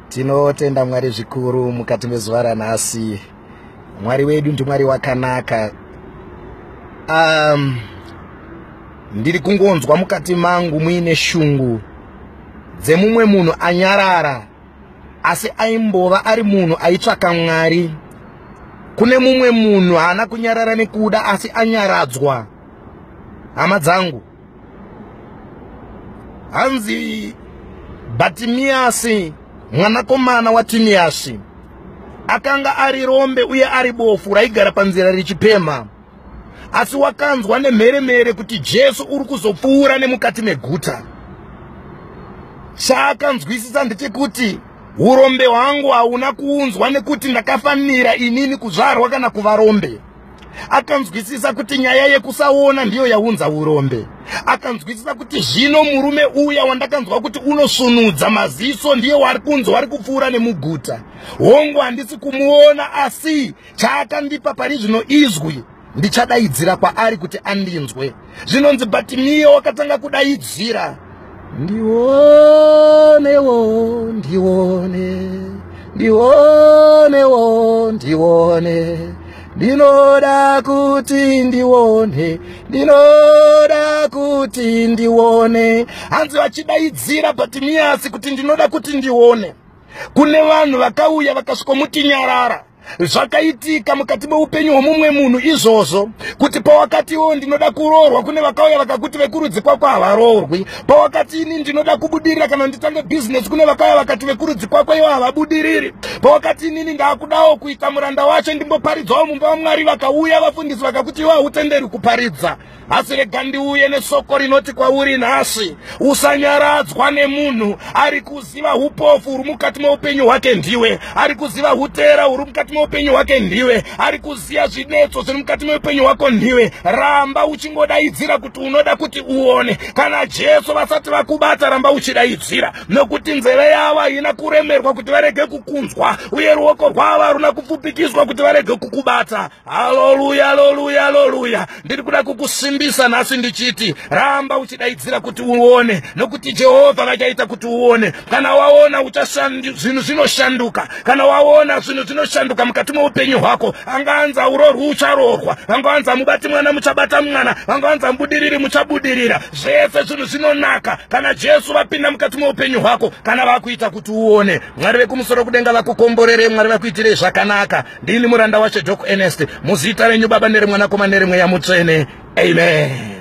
tinotenda mwari zvikuru mukati mezuva ranhasi mwari wedu ndimwari wakanaka um, ndiri kungonzwa mukati mangu muine shungu dzemumwe munhu anyarara asi aimbova ari munhu aitsvaka mwari kune mumwe munhu haana kunyarara nekuda asi anyaradzwa hama dzangu hanzi bhatimiyasi mwanakomana watimiyasi akanga ari rombe uye ari bofu raigara panzira richipemha asi wakanzwa nemheremhere kuti jesu uri kuzopfuura nemukati meguta chaakanzwisisa ndechekuti urombe hwangu hauna kuunzwa nekuti ndakafanira inini kuzvarwa kana kuva rombe akanzwisisa kuti nyaya yekusaona ndiyo yaunza urombe akanzwisisa kuti zvino murume uya wandakanzwa kuti unosvunudza maziso ndiye wari kunzi wari kupfuura nemuguta hongu handisi kumuona asi chaakandipa pari zvino izwi ndichadaidzira kwaari kuti andinzwe zvinonzi but miye wakatanga kudaidzira ndionewo ndione ndionewo ndione ndinoda kuti ndione ndinoda kuti ndione hanzi vachidaidzira but miyasi kuti ndinoda kuti ndione kune vanhu vakauya vakasvikomuti nyarara zvakaitika mukati meupenyu hwemumwe munhu izvozvo kuti pawakati iwewo ndinoda kuroorwa kune vakauya vakakuti vekurudzi kwako havaroorwi pawakati ini ndinoda kubudirira kana nditange bhizinesi kune vakauya vakati vekurudzi kwako iwo havabudiriri pawakati inini ndaakudawo kuita muranda wacho ndimboparidzawo mumba vamwari vakauya vafundisi vakakuti iwo hautenderwi kuparidza asi rega ndiuye nesoko rinoti kwauri nhasi usanyaradzwa nemunhu ari kuziva upofu huri mukati meupenyu hwake ndiwe ari kuziva utera huri mukati meupenyu hwake ndiwe ari kuziva zvinetso zviri mukati meupenyu hwako ndiwe ramba uchingodaidzira kuti unoda kuti uone kana jesu vasati vakubata ramba uchidaidzira nokuti nzeve yavo haina kuremerwa kuti varege kukunzwa uye ruoko rwavo haruna kupfupikiswa kuti varege kukubata haleluya haleluya haleluya ndiri kuda kukusimbisa nhasi ndichiti ramba uchidaidzira kuti uone nokuti jehovha vachaita kuti uone kana waona zvinhu zvinoshanduka kana waona zvinhu zvinoshanduka mukati meupenyu hwako angaanza urorwi ucharorwa vangaanza mubati mwana muchabata mwana vangaanza mubudiriri muchabudirira zvese zvinhu zvinonaka kana jesu vapinda mukati meupenyu hwako kana vakuita kuti uone mwari vekumusoro kudenga vakukomborere mwari vakuitirei zvakanaka Ndini muranda waShe Doc Ernest, muzita renyu Baba nereMwanakomana nereMweya Mutsvene. Amen.